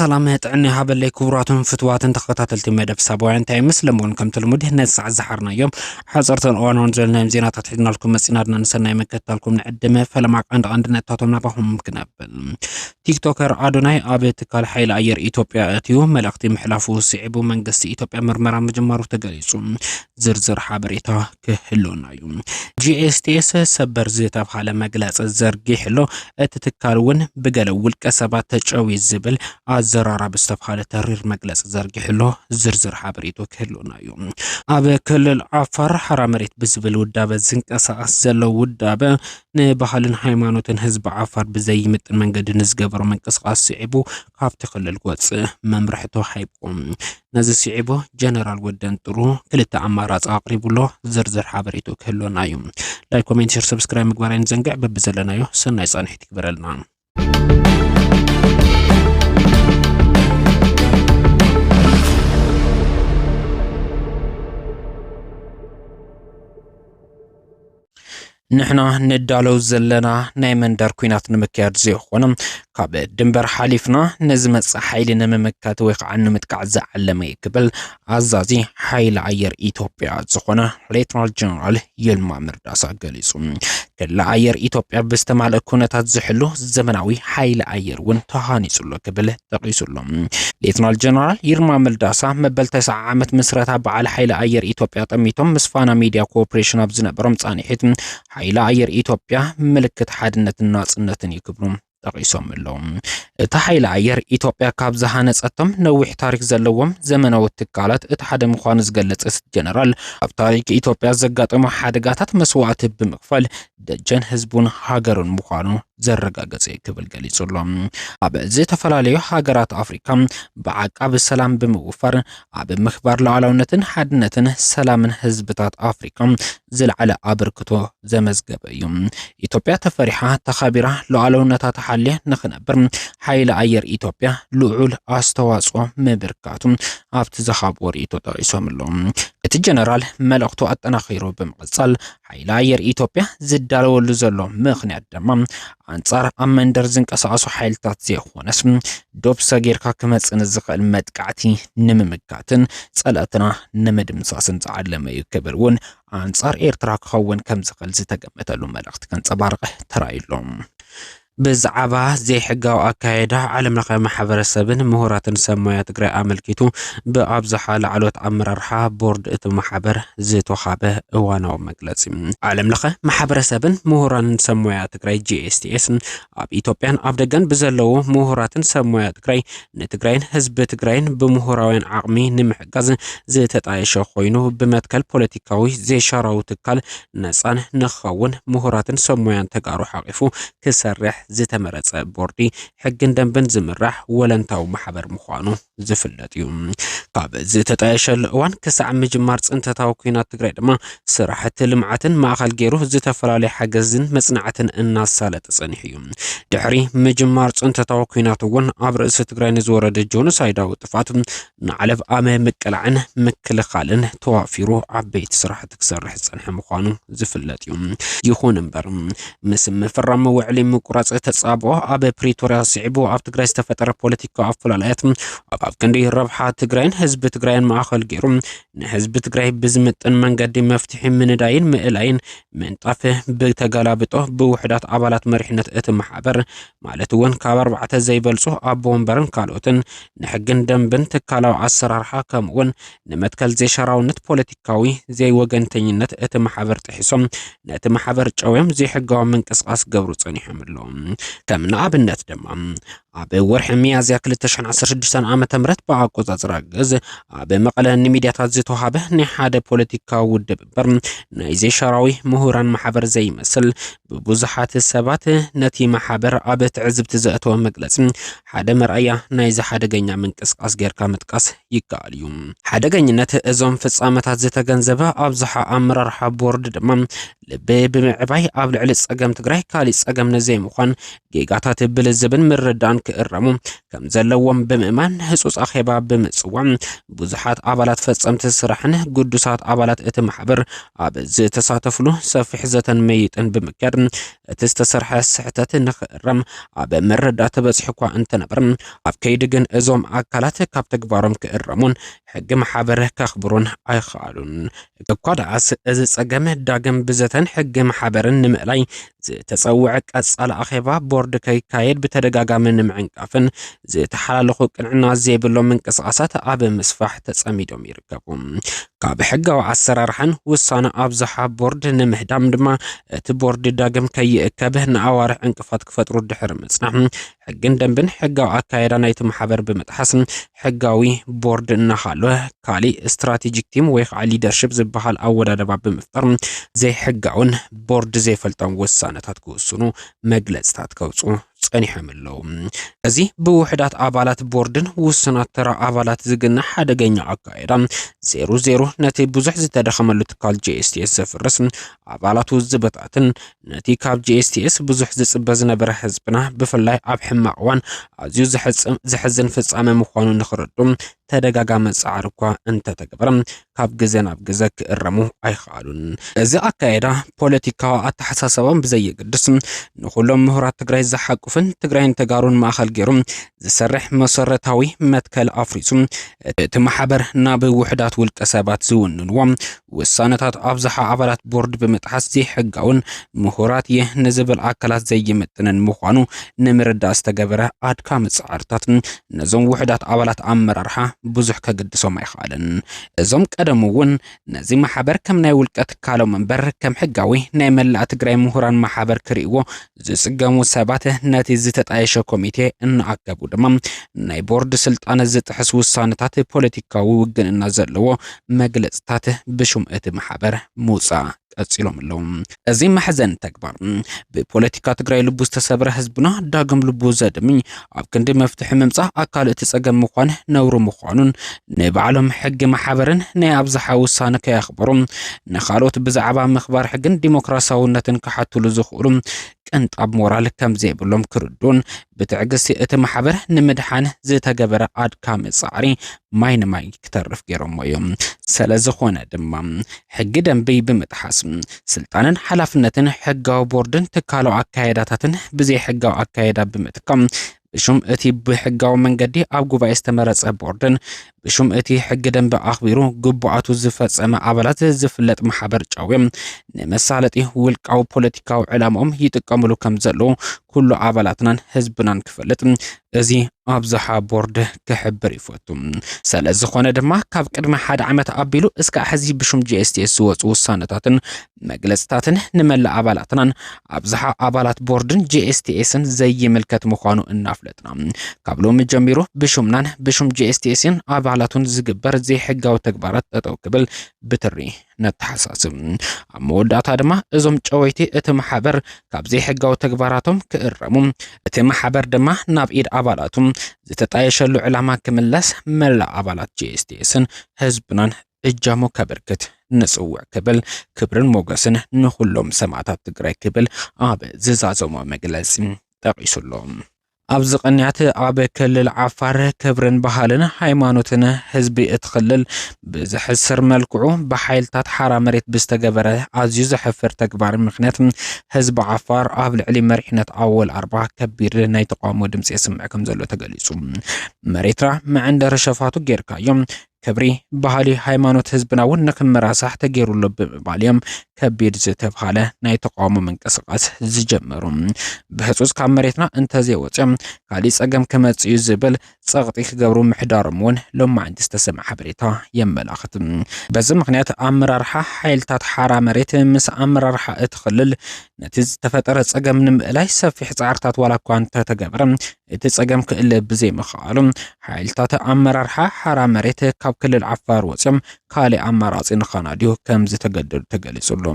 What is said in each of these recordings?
ሰላም ጥዕና ይሃበለይ ክቡራትን ፍትዋትን ተኸታተልቲ መደብ ሳባውያን እንታይ ይመስል እምበሉን ከምቲ ልሙድ ነዚ ሰዓት ዝሓርናዮም ሓፀርትን እዋናውን ዘለናዮም ዜናታት ሒዝናልኩም መፂናድና ንሰናይ መከታልኩም ንዕድመ ፈለማ ቀንዲ ቀንዲ ነጥብታቶም ናባኹም ክነብል ቲክቶከር ኣዶናይ ኣብ ትካል ሓይሊ ኣየር ኢትዮጵያ እትዩ መልእኽቲ ምሕላፉ ስዒቡ መንግስቲ ኢትዮጵያ ምርመራ ምጅማሩ ተገሊጹ። ዝርዝር ሓበሬታ ክህልወና እዩ። ጂኤስቲኤስ ሰበር ዝተብሃለ መግለፂ ዘርጊሕሎ እቲ ትካል እውን ብገለ ውልቀ ሰባት ተጨዊ ዝብል ኣዘራራቢ ዝተብሃለ ተሪር መግለፂ ዘርጊሕሎ ዝርዝር ሓበሬቱ ክህልወና እዩ። ኣብ ክልል ዓፋር ሓራ መሬት ብዝብል ውዳበ ዝንቀሳቐስ ዘሎ ውዳበ ንባህልን ሃይማኖትን ህዝቢ ዓፋር ብዘይምጥን መንገዲ ንዝገበሮ ምንቅስቓስ ስዒቡ ካብቲ ክልል ክወጽእ መምርሒ ተዋሂብዎ። ነዚ ስዒቡ ጀነራል ወደን ጥሩ ክልተ ኣማራፂ ኣቕሪቡሎ ዝርዝር ሓበሬቱ ክህልወና እዩ። ላይክ፣ ኮሜንት፣ ሸር፣ ሰብስክራይብ ምግባር ኣይንዘንግዕ። በብዘለናዮ ሰናይ ፃንሒት ይግበረልና። ንሕና ንዳለው ዘለና ናይ መንደር ኩናት ንምክያድ ዘይኾነ ካብ ድንበር ሓሊፍና ንዝመፅእ ሓይሊ ንምምካት ወይ ከዓ ንምጥቃዕ ዝዓለመ እዩ ክብል ኣዛዚ ሓይሊ ኣየር ኢትዮጵያ ዝኾነ ሌተናል ጀነራል ይልማ መርዳሳ ገሊጹ። ክሊ ኣየር ኢትዮጵያ ብዝተማልእ ኩነታት ዝሕሉ ዘመናዊ ሓይሊ ኣየር እውን ተሃኒጹሎ ክብል ጠቒሱሎ። ሌተናል ጀነራል ይልማ መርዳሳ መበል ተስዓ ዓመት ምስረታ በዓል ሓይሊ ኣየር ኢትዮጵያ ጠሚቶም ምስ ፋና ሚድያ ኮርፖሬሽን ኣብ ዝነበሮም ጻኒሒት ሓይሊ ኣየር ኢትዮጵያ ምልክት ሓድነትን ናጽነትን እዩ ክብሉ ጠቒሶም'ለው። እቲ ሓይሊ ኣየር ኢትዮጵያ ካብ ዝሃነፀቶም ነዊሕ ታሪክ ዘለዎም ዘመናዊ ትካላት እቲ ሓደ ምዃኑ ዝገለፀ እቲ ጀነራል ኣብ ታሪክ ኢትዮጵያ ዘጋጠሙ ሓደጋታት መስዋእቲ ብምክፋል ደጀን ህዝቡን ሃገሩን ምዃኑ ዘረጋገፀ እዩ ክብል ገሊጹ ኣሎ። ኣብ ዝተፈላለዩ ሃገራት ኣፍሪካ ብዓቃቢ ሰላም ብምውፋር ኣብ ምክባር ሉዓላውነትን ሓድነትን ሰላምን ህዝብታት ኣፍሪካ ዝለዓለ ኣበርክቶ ዘመዝገበ እዩ። ኢትዮጵያ ተፈሪሓ ተኸቢራ ሉዓላውነታ ተሓልያ ንክነብር ሓይሊ ኣየር ኢትዮጵያ ልዑል ኣስተዋፅኦ ምብርካቱ ኣብቲ ዝሃብዎ ርእይቶ ጠቒሶም ኣለዉ። እቲ ጀነራል መልእኽቱ ኣጠናኺሩ ብምቕፃል ሓይሊ ኣየር ኢትዮጵያ ዝዳለወሉ ዘሎ ምኽንያት ድማ ኣንጻር ኣብ መንደር ዝንቀሳቐሱ ሓይልታት ዘይኾነስ ዶብ ሰጊርካ ክመጽእ ንዝኽእል መጥቃዕቲ ንምምካትን ጸላእትና ንምድምሳስን ዝዓለመ እዩ ክብል እውን ኣንጻር ኤርትራ ክኸውን ከም ዝኽእል ዝተገመተሉ መልእኽቲ ከንጸባርቐ ተራእዩ ኣሎ። ብዛዕባ ዘይሕጋዊ ኣካይዳ ዓለምለኸ ማሕበረሰብን ምሁራትን ሰብ ሞያ ትግራይ ኣመልኪቱ ብኣብዝሓ ላዕለዎት ኣመራርሓ ቦርድ እቲ ማሕበር ዝተውሃበ እዋናዊ መግለፂ። ዓለምለኸ ማሕበረሰብን ምሁራንን ሰብ ሞያ ትግራይ፣ GSTS፣ ኣብ ኢትዮጵያን ኣብ ደገን ብዘለዉ ምሁራትን ሰብ ሞያ ትግራይ ንትግራይን ህዝቢ ትግራይን ብምሁራውያን ዓቕሚ ንምሕጋዝ ዝተጣየሸ ኮይኑ ብመትከል ፖለቲካዊ ዘይሻራዊ ትካል ነፃን ንክኸውን ምሁራትን ሰብ ሞያን ተጋሩ ሓቒፉ ክሰርሕ ዝተመረፀ ቦርዲ ሕግን ደንብን ዝምራሕ ወለንታዊ ማሕበር ምዃኑ ዝፍለጥ እዩ። ካብ ዝተጣየሸሉ እዋን ክሳዕ ምጅማር ፅንተታዊ ኲናት ትግራይ ድማ ስራሕቲ ልምዓትን ማእኸል ገይሩ ዝተፈላለዩ ሓገዝን መፅናዕትን እናሳለጠ ፀኒሑ እዩ። ድሕሪ ምጅማር ፅንተታዊ ኲናት እውን ኣብ ርእሲ ትግራይ ንዝወረደ ጆኖሳይዳዊ ጥፍኣት ንዓለብ ኣመ ምቅላዕን ምክልኻልን ተዋፊሩ ዓበይቲ ስራሕቲ ክሰርሕ ዝፀንሐ ምዃኑ ዝፍለጥ እዩ። ይኹን እምበር ምስ ምፍራም ውዕሊ ምቁራፅ ተፃብኦ ኣብ ፕሪቶሪያ ስዒቡ ኣብ ትግራይ ዝተፈጠረ ፖለቲካዊ ኣፈላላያት ኣብ ክንዲ ረብሓ ትግራይን ህዝቢ ትግራይን ማእኸል ገይሩ ንህዝቢ ትግራይ ብዝምጥን መንገዲ መፍትሒ ምንዳይን ምእላይን ምንጣፍ ብተገላብጦ ብውሕዳት ኣባላት መሪሕነት እቲ ማሕበር ማለት እውን ካብ ኣርባዕተ ዘይበልፁ ኣቦ ወንበርን ካልኦትን ንሕግን ደንብን ትካላዊ ኣሰራርሓ ከምኡ እውን ንመትከል ዘይሻራውነት ፖለቲካዊ ዘይወገንተኝነት እቲ ማሕበር ጥሒሶም ነቲ ማሕበር ጨውዮም ዘይሕጋዊ ምንቅስቓስ ገብሩ ፀኒሖም ኣለዉ ከም ንኣብነት ድማ ኣብ ወርሒ ሚያዝያ 2016 ዓ ም ብኣቆፃፅራ ግዝ ኣብ መቐለ ንሚድያታት ዝተዋሃበ ናይ ሓደ ፖለቲካዊ ውድብ እምበር ናይ ዘይሻራዊ ምሁራን ማሕበር ዘይመስል ብብዙሓት ሰባት ነቲ ማሕበር ኣብ ትዕዝብቲ ዘእተወ መግለጺ ሓደ መርኣያ ናይዚ ሓደገኛ ምንቅስቃስ ጌርካ ምጥቃስ ይከኣል እዩ። ሓደገኝነት እዞም ፍጻመታት ዝተገንዘበ ኣብዝሓ ኣመራርሓ ቦርድ ድማ ልቢ ብምዕባይ ኣብ ልዕሊ ጸገም ትግራይ ካሊእ ጸገም ንዘይምዃን ጌጋታት ብልዝብን ምርዳእን ክእረሙ ከም ዘለዎም ብምእማን ህጹጽ ኣኼባ ብምጽዋም ብዙሓት ኣባላት ፈጸምቲ ስራሕን ግዱሳት ኣባላት እቲ ማሕበር ኣብ ዝተሳተፍሉ ሰፊሕ ዘተን መይጥን ብምክያድ እቲ ዝተሰርሐ ስሕተት ንክእረም ኣብ ምርዳእ ተበጺሑ እኳ እንተነበረ ኣብ ከይዲ ግን እዞም ኣካላት ካብ ተግባሮም ክእረሙን ሕጊ ማሕበር ከኽብሩን ኣይኸኣሉን። እኳ ደኣስ፣ እዚ ጸገም ዳግም ብዘተን ሕጊ ማሕበርን ንምእላይ ዝተጸውዐ ቀጻሊ ኣኼባ ቦርድ ከይካየድ ብተደጋጋሚ ንምዕንቃፍን ዝተሓላለኹ ቅንዕና ዘይብሎም ምንቅስቓሳት ኣብ ምስፋሕ ተጸሚዶም ይርከቡ። ካብ ሕጋዊ ኣሰራርሓን ውሳነ ኣብዝሓ ቦርድ ንምህዳም ድማ እቲ ቦርድ ዳግም ከይእከብ ንኣዋርሕ ዕንቅፋት ክፈጥሩ ድሕሪ ምጽናሕ ሕግን ደንብን ሕጋዊ ኣካየዳ ናይቲ ማሕበር ብምጥሓስ ሕጋዊ ቦርድ እናሃለወ ካሊእ ስትራቴጂክ ቲም ወይ ከዓ ሊደርሽፕ ዝበሃል ኣወዳደባ ብምፍጣር ዘይሕጋውን ቦርድ ዘይፈልጦም ውሳነታት ክውስኑ መግለፅታት ከውፅኡ ጸኒሖም ኣለዉ። እዚ ብውሕዳት ኣባላት ቦርድን ውሱናት ተራ ኣባላት ዝግነ ሓደገኛ ኣካየዳ ዜሮ ዜሮ ነቲ ብዙሕ ዝተደኸመሉ ትካል ጄኤስቲኤስ ዘፍርስ ኣባላቱ ዝበታትን ነቲ ካብ GSTS ብዙሕ ዝጽበ ዝነበረ ህዝብና ብፍላይ ኣብ ሕማቕ እዋን ኣዝዩ ዘሕዝን ፍጻመ ምዃኑ ንኽረዱ ተደጋጋሚ ጻዕሪ እኳ እንተተገበረ ካብ ግዘ ናብ ግዘ ክእረሙ ኣይኸኣሉን። እዚ ኣካይዳ ፖለቲካዊ ኣተሓሳሰባም ብዘየገድስ ንኹሎም ምሁራት ትግራይ ዝሓቁፍን ትግራይን ተጋሩን ማእኸል ገይሩ ዝሰርሕ መሰረታዊ መትከል ኣፍሪሱ እቲ ማሕበር ናብ ውሑዳት ውልቀ ሰባት ዝውንንዎ ውሳነታት ኣብዝሓ ኣባላት ቦርድ ብምጥሓስ ዘይሕጋውን ምሁራት እየ ንዝብል ኣካላት ዘይምጥንን ምዃኑ ንምርዳእ ዝተገበረ ኣድካሚ ፃዕርታት ነዞም ውሑዳት ኣባላት ኣመራርሓ ብዙሕ ከገድሶም ኣይኸኣለን። እዞም ቀደሙ እውን ነዚ ማሕበር ከም ናይ ውልቀ ትካሎም እምበር ከም ሕጋዊ ናይ መላእ ትግራይ ምሁራን ማሕበር ክርእይዎ ዝፅገሙ ሰባት ነቲ ዝተጣየሸ ኮሚቴ እናኣከቡ ድማ ናይ ቦርድ ስልጣን ዝጥሕስ ውሳነታት ፖለቲካዊ ውግንና ዘለዎ መግለፅታት ብሹም እቲ ማሕበር ምውፃእ ቀጺሎም ኣለዉ። እዚ መሕዘኒ ተግባር ብፖለቲካ ትግራይ ልቡ ዝተሰብረ ህዝብና ዳግም ልቡ ዘድምኝ ኣብ ክንዲ መፍትሒ ምምጻእ ኣካል እቲ ጸገም ምዃን ነውሪ ምዃኑን ንባዕሎም ሕጊ ማሕበርን ናይ ኣብዝሓ ውሳነ ከየኽበሩ ንኻልኦት ብዛዕባ ምኽባር ሕግን ዲሞክራሲያውነትን ክሓትሉ ዝኽእሉ ቅንጣብ ሞራል ከምዘይብሎም ክርዱን ብትዕግስቲ እቲ ማሕበር ንምድሓን ዝተገበረ ኣድካሚ ጻዕሪ ማይ ንማይ ክተርፍ ገይሮሞ እዮም። ሰለዝኾነ ድማ ሕጊ ደንቢ ብምጥሓስ ስልጣንን ሓላፍነትን ሕጋዊ ቦርድን ትካላዊ ኣካያይዳታትን ብዘይሕጋዊ ኣካያይዳ ብምትካም ብሹም እቲ ብሕጋዊ መንገዲ ኣብ ጉባኤ ዝተመረጸ ቦርድን ብሹም እቲ ሕጊ ደንቢ ኣኽቢሩ ግቡኣቱ ዝፈጸመ ኣባላት ዝፍለጥ ማሕበር ጫዊ ንመሳለጢ ውልቃዊ ፖለቲካዊ ዕላማኦም ይጥቀምሉ ከም ዘለዉ ኩሉ ኣባላትናን ህዝብናን ክፈልጥ እዚ ኣብዝሓ ቦርድ ክሕብር ይፈቱ ስለ ዝኾነ ድማ ካብ ቅድሚ ሓደ ዓመት ኣቢሉ እስካዕ ሕዚ ብሹም ጂኤስቲኤስ ዝወፁ ውሳነታትን መግለፅታትን ንመላእ ኣባላትናን ኣብዝሓ ኣባላት ቦርድን ጂኤስቲኤስን ዘይምልከት ምዃኑ እናፍለጥና ካብ ሎሚ ጀሚሩ ብሹምናን ብሹም ጂኤስቲኤስን ኣባላቱን ዝግበር ዘይሕጋዊ ተግባራት ጠጠው ክብል ብትሪ ነተሓሳስብ። ኣብ መወዳእታ ድማ እዞም ጨወይቲ እቲ ማሕበር ካብ ዘይሕጋዊ ተግባራቶም ክእረሙ፣ እቲ ማሕበር ድማ ናብ ኢድ ኣባላቱ ዝተጣየሸሉ ዕላማ ክምለስ መላእ ኣባላት ጂኤስቲኤስን ህዝብናን እጃሙ ከበርክት ንጽውዕ ክብል ክብርን ሞገስን ንኹሎም ሰማእታት ትግራይ ክብል ኣብ ዝዛዘሞ መግለጺ ጠቒሱ ኣሎ። ኣብዚ ቅንያት ኣብ ክልል ዓፋር ክብርን ባህልን ሃይማኖትን ህዝቢ እቲ ክልል ብዝሕስር መልክዑ ብሓይልታት ሓራ መሬት ብዝተገበረ ኣዝዩ ዘሕፍር ተግባር ምክንያት ህዝቢ ዓፋር ኣብ ልዕሊ መሪሕነት ኣወል ኣርባ ከቢድ ናይ ተቃውሞ ድምፂ የስምዕ ከም ዘሎ ተገሊፁ። መሬትና መዕንደሪ ሸፋቱ ጌርካዮም ክብሪ ባህሊ ሃይማኖት ህዝብና እውን ንክመራሳሕ ተገይሩ ኣሎ ብምባል እዮም ከቢድ ዝተብሃለ ናይ ተቃውሞ ምንቅስቃስ ዝጀመሩ። ብህፁፅ ካብ መሬትና እንተዘይወፂኦም ካሊእ ፀገም ክመፅእ እዩ ዝብል ፀቕጢ ክገብሩ ምሕዳሮም እውን ሎማዕንቲ ዝተሰምዐ ሓበሬታ የመላኽት። በዚ ምኽንያት ኣመራርሓ ሓይልታት ሓራ መሬት ምስ ኣመራርሓ እቲ ክልል ነቲ ዝተፈጠረ ፀገም ንምእላይ ሰፊሕ ፃዕርታት ዋላ እኳ እንተተገበረ እቲ ጸገም ክእለ ብዘይምኽኣሉ ሓይልታት ኣመራርሓ ሓራ መሬት ካብ ክልል ዓፋር ወፂኦም ካልእ ኣማራፂ ንኸናድዩ ከም ዝተገደዱ ተገሊጹሉ።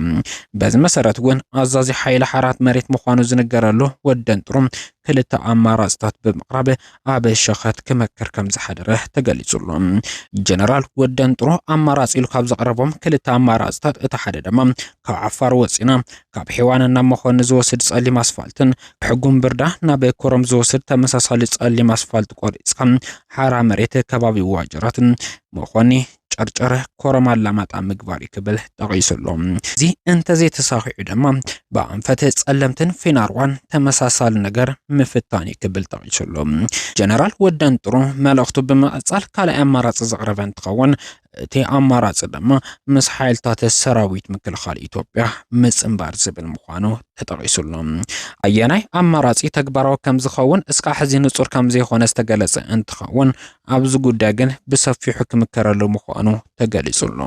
በዚ መሰረት እውን ኣዛዚ ሓይሊ ሓራት መሬት ምዃኑ ዝንገረሉ ወደንጥሩ ክልተ ኣማራፅታት ብምቕራብ ኣብ ሸኸት ክመክር ከም ዝሓደረ ተገሊጹሉ። ጀነራል ወደንጥሩ ኣማራፂ ኢሉ ካብ ዘቕረቦም ክልተ ኣማራፅታት እቲ ሓደ ድማ ካብ ዓፋር ወፂና ካብ ሔዋን ናብ መኾኒ ዝወስድ ጸሊም ኣስፋልትን ሕጉም ብርዳ ናብ ኮረም ዝወስድ ተመሳሳሊ ጸሊም ኣስፋልት ቆሪጽካ ሓራ መሬት ከባቢ ዋጀራትን መኾኒ ጨርጨረ ኮረም ኣላማጣ ምግባር እዩ ክብል ጠቒሱ ኣሎ። እዚ እንተዘይተሳኺዑ ድማ ብኣንፈት ጸለምትን ፊናርዋን ተመሳሳሊ ነገር ምፍታን እዩ ክብል ጠቒሱ ኣሎ። ጀነራል ወደንጥሩ መልእኽቱ ብምቕጻል ካልኣይ ኣማራጺ ዘቕረበ እንትኸውን እቲ ኣማራፂ ድማ ምስ ሓይልታት ሰራዊት ምክልኻል ኢትዮጵያ ምፅንባር ዝብል ምዃኑ ተጠቒሱ ኣሎ። ኣየናይ ኣማራፂ ተግባራዊ ከም ዝኸውን እስካዕ ሕዚ ንፁር ከም ዘይኮነ ዝተገለፀ እንትኸውን ኣብዚ ጉዳይ ግን ብሰፊሑ ክምከረሉ ምዃኑ ተገሊጹ ኣሎ።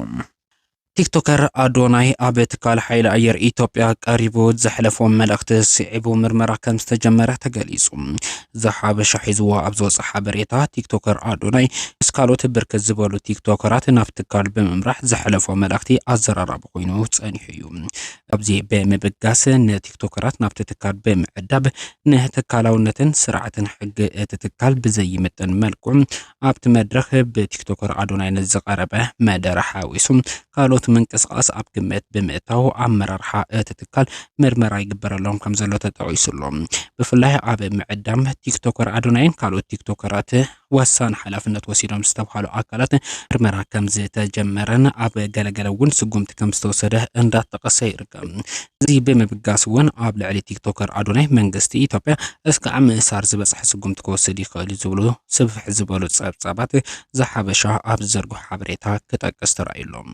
ቲክቶከር ኣዶናይ ኣብ ትካል ሓይሊ ኣየር ኢትዮጵያ ቀሪቡ ዘሕለፎ መልእኽቲ ስዒቡ ምርመራ ከም ዝተጀመረ ተገሊጹ። ዘሓበሻ ሒዝዎ ኣብ ዝወጸ ሓበሬታ፣ ቲክቶከር ኣዶናይ ምስ ካልኦት ብርክት ዝበሉ ቲክቶከራት ናብ ትካል ብምምራሕ ዘሕለፎ መልእኽቲ ኣዘራራቢ ኮይኑ ጸኒሑ እዩ። ኣብዚ ብምብጋስ ንቲክቶከራት ናብቲ ትካል ብምዕዳብ ንትካላውነትን ስርዓትን ሕጊ እቲ ትካል ብዘይምጥን መልክዑ ኣብቲ መድረኽ ብቲክቶከር ኣዶናይ ንዝቐረበ መደረ ሓዊሱ ካልኦት ምንቅስቓስ ኣብ ግምት ብምእታው ኣመራርሓ እቲ ትካል ምርመራ ይግበረሎም ከም ዘሎ ተጠቒሱ ኣሎ። ብፍላይ ኣብ ምዕዳም ቲክቶከር ኣዶናይን ካልኦት ቲክቶከራት ወሳኒ ሓላፍነት ወሲዶም ዝተብሃሉ ኣካላት ምርመራ ከም ዝተጀመረን ኣብ ገለገለ እውን ስጉምቲ ከም ዝተወሰደ እንዳተቐሰ ይርከብ። እዚ ብምብጋስ እውን ኣብ ልዕሊ ቲክቶከር ኣዶናይ መንግስቲ ኢትዮጵያ እስካዕ ምእሳር ዝበፅሐ ስጉምቲ ክወስድ ይኽእል እዩ ዝብሉ ስፍሕ ዝበሉ ፀብፃባት ዘሓበሻ ኣብ ዝዘርግሑ ሓበሬታ ክጠቅስ ተራእዩ ኣሎ።